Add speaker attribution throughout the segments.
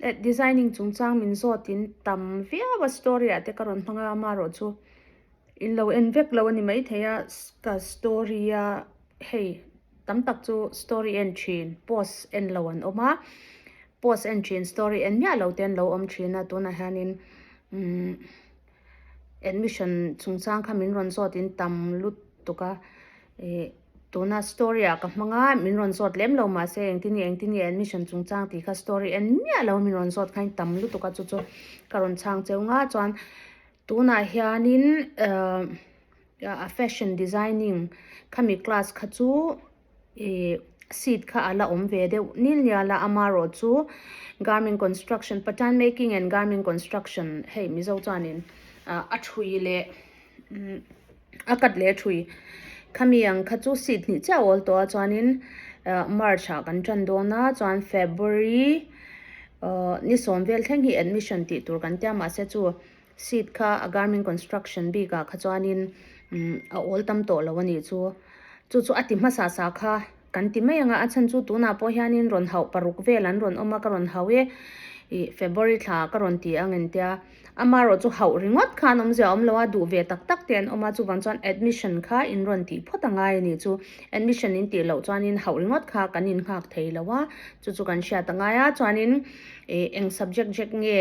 Speaker 1: At designing chungchang min zawt in tam viau a story ah te ka rawn hmang a ama erawh chu in lo en vek lo a ni mai thei a ka story a hei tam tak chu story en thin post en lo an awm a post en thin story en miah lo te an lo awm thin a tunah hian in umm. Admission chungchang kha min rawn zawtin tam lut tuk a, ih, tuna story ah ka hmang a, min rawn zawt lem lo mah se engtin nge engtin nge admission chungchang tih kha story en miah lo min rawn zawt khain tam lutuk a chu chu ka rawn chhang cheu ngah chuan tunah hianin, ehh, fashion designing khami class kha chu, I seat kha a la awm ve deuh nil nia la ama rawh chu garmin construction patan making and garmin construction hei mizo chuanin a thui leh a cut leh a thui khami ang kha chu seat hnih chiah awl tawh a chuanin march ah kan tan dawn a chuan february ni sawm vel thleng hi admission tih tur kan tia mahse chu Seat kha a Garmin Construction bikah kha chuanin a awl tam tawh lo a nih chu. Chu chu a ti hmasa sa kha kan ti mai ang a, a chhan chu tunah pawh hianin rawn hauh paruk vel an rawn awm a, ka rawn hauh e ih February thla ka rawn ti ang entia amarawh chu hauh ringawt kha an awm zia a awm lo a, duh ve tak tak te an awm a, chuvang chuan admission kha in rawn tih phawt a ngai a nih chu. Admission in tih loh chuanin hauh ringawt kha kan in nghak thei lo a, chu chu kan hriat a ngai a, chuanin ih eng subject rek nge.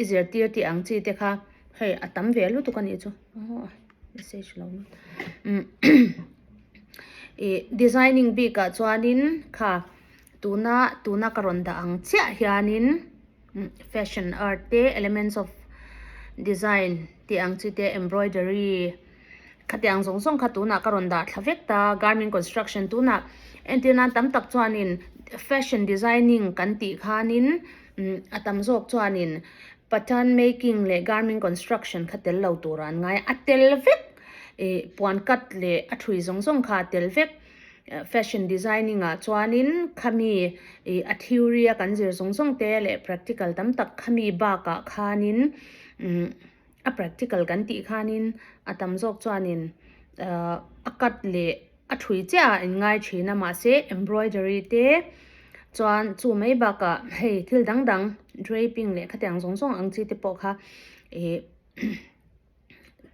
Speaker 1: I zirtir tih ang chi te kha hei a tam ve lutuk a nih chu aw message a lo lut umm ih designing bik ah chuanin kha tuna tuna ka rawn dah ang chiah hianin fashion art te elements of design tih ang chi te embroidery -- Khatiang zawng zawng kha tunah ka rawn dah thla vek ta, Garmin Construction tunah entir nan tam tak chuanin Fashion Designing kan tih khanin a tam zawk chuanin Pattern Making leh Garmin Construction kha tel lo tur an ngai a, a tel vek ih puan cut leh a thui zawng zawng kha a tel vek. Fashion Designing ah chuanin khami ih a theory a kan zir zawng zawng te leh practical tam tak khami bakah khanin umm. A practical kan tih khanin a tam zawk chuanin a cut leh a thui chiah a in ngai thin a mahse embroidery te chuan chu mai bakah hei thil dang dang draping leh khatiang zawng zawng ang chi te pawh kha ih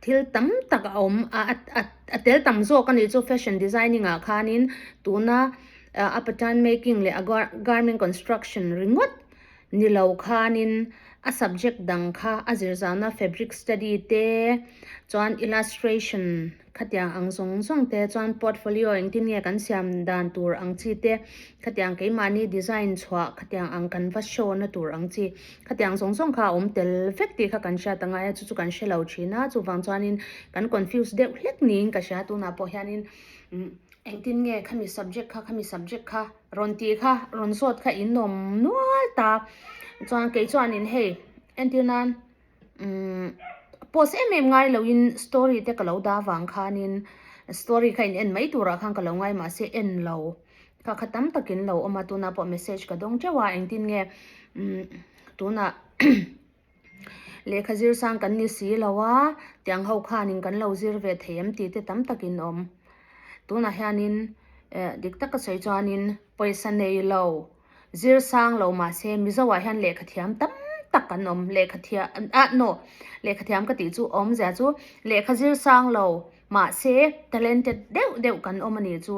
Speaker 1: thil tam tak a awm a a tel tam zawk a ni chu fashion designing ah khanin tuna a pattern making leh a garment construction ringawt-- ni lo khanin a subject dang kha a zirzana fabric study te chuan illustration khatiang ang zawng zawng te chuan portfolio engtin nge kan siam dan tur ang chi te khatiang keimahni design chhuah khatiang ang kan va show na tur ang chi khatiang zawng zawng kha a awm tel vek tih kha kan hriat angai a chu chu kan hrelo thin a chuvang chuanin kan confuse deuh hlek niin ka hria tunah pawh hianin engtin nge khami subject kha khami subject kha Rawn tih kha rawn sawt kha in awm nual ta chuan kei chuanin hei entir nan umm post em em ngai loin story te ka lo da vang khanin story kha in en mai turah khan ka lo ngai mahse en lo kha kha tam takin lo awm a tunah pawh message ka dawng teuh a engtin nge umm tunah Lehkha zir sang kan ni si lo a, tiang ho khanin kan lo zir ve thei em tih te tam takin awm. Tunah hianin eh dik taka sawi chuanin pawisa nei lo, zir sang lo mahse Mizoah hian lehkha thiam tam tak an awm. Lehkha thiam ah no, lehkha thiam ka tih chu a awm zia chu lehkha zir sang lo mahse talented deuh deuh kan awm a nih chu.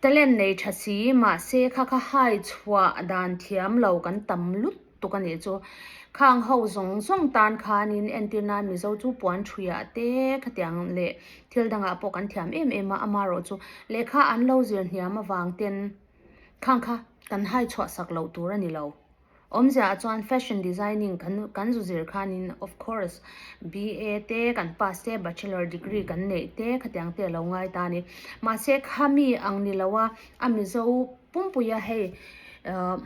Speaker 1: Talent nei tha si, mahse kha kha hai chhuah dan thiam lo kan tam lut tuk a nih chu. Khang ho zawng zawng tan khanin entir nan Mizo chu puan thuia te khatiang leh thil dangah pawh kan thiam em em a, amarawh chu lehkha an lo zir hniam avang ten khang kha kan hai chhuah sak loh tur a ni lo. Awmzia chuan fashion designing kan kan zu zir khanin of course BA te kan pass te bachelor degree kan neih te khatiang te alo ngai ta a ni mahse khami ang ni lo a a mizo pumpui a hei uh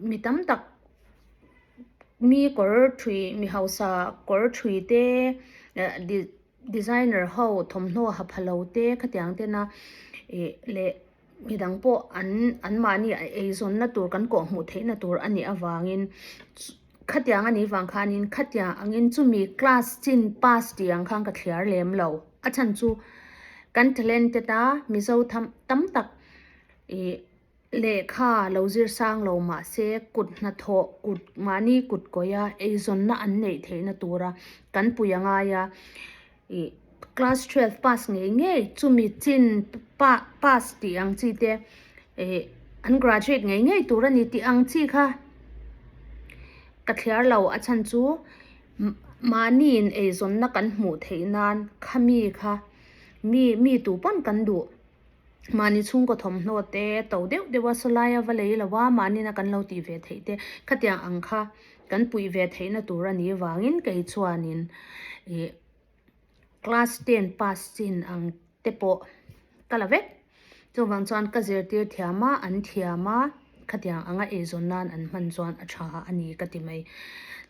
Speaker 1: mi tam tak mi kawr thui mi hausa kawr thui te designer ho thawmhnaw ha pha lo te khatiang tena ih leh-- midang pawh an anmahni a eizawnna tur kan kawhhmuh theihna tur a nih avangin khatia anga ni vang khanin khatia angin chumi class chin pass tih ang khan ka thliar lem lo a chhan chu kan talent te ta mizo tham tam tak ih lehkha lo zir sang lo mahse kut hnathawh kut mahni kutkawih a eizawnna an neih theihna tura kan puia ngai a. ih class twelve pass ngei ngei chumi chin pa pass tih ang chi te ih an graduate ngei ngei tur a ni tih ang chi kha ka thliar lo a chhan chu mahni in eizawnna kan hmuh theih nan khami kha mi mitu pawn kan duh. mahni chhungkaw thawmhnaw te to deuh deuha saw laia va lei lova mahnina kan lo tih ve theih te khatiang ang kha kan puih ve theihna tur a nih vangin kei chuanin ih class ten pass chin ang te pawh ka la vek chuvang chuan ka zirtir thiam a an thiam a. Khatiang anga eizawn nan an hman chuan a tha a ni ka ti mai.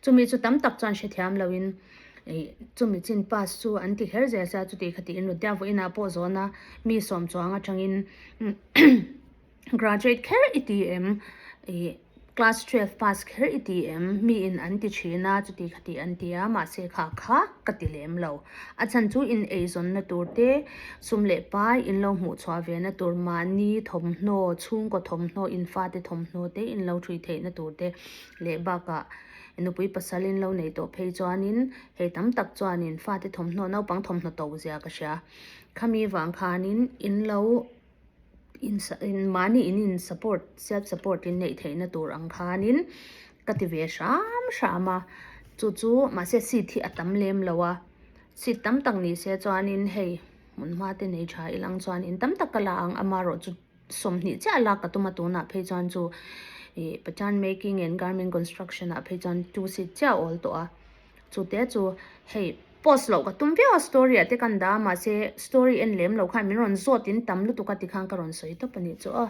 Speaker 1: Chumi chu tam tak chuan hrethiam loin chumi chin pass chu an ti kher zel se a chuti kha tiin Rudhya vawiinah pawh zawn a mi sawm chuang atangin graduate kher i ti em class twelve pass kher i ti em mi in an ti thin a chuti kha tih an ti a mahse kha kha ka ti lem lo. A chhan chu ineizawnna tur te, sum leh pai in lo hmuh chhuah ve na tur, mahni thawmhnaw, chhungkaw thawmhnaw, in fate thawmhnaw te in lo ṭhui theih na tur te leh bakah nupui pasal in lo nei tawh phei chuanin hei tam tak chuanin fate thawmhnaw, naupang thawmhnaw to zia ka hria. Khami vang khanin in lo. in mahni in in support self support in neih theih na tur ang khan in ka ti ve hram hram a chu chu mah se seat hi a tam lem lo a seat tam tak ni se chuan in hei hmun hma te nei tha i lang chuan in tam tak ka la ang ama erawh chu sawmhnih chiah la ka tum a tun ah phei chuan chu ih pathian making and garment construction ah phei chuan two seat chiah a awl tawh a. Chute chu hei post loh ka tum viau a story ah te kan dah a mahse story en lem lo khan min rawn zawt in tam lutuk a ti khan ka rawn sawi tawp a nih chu aw.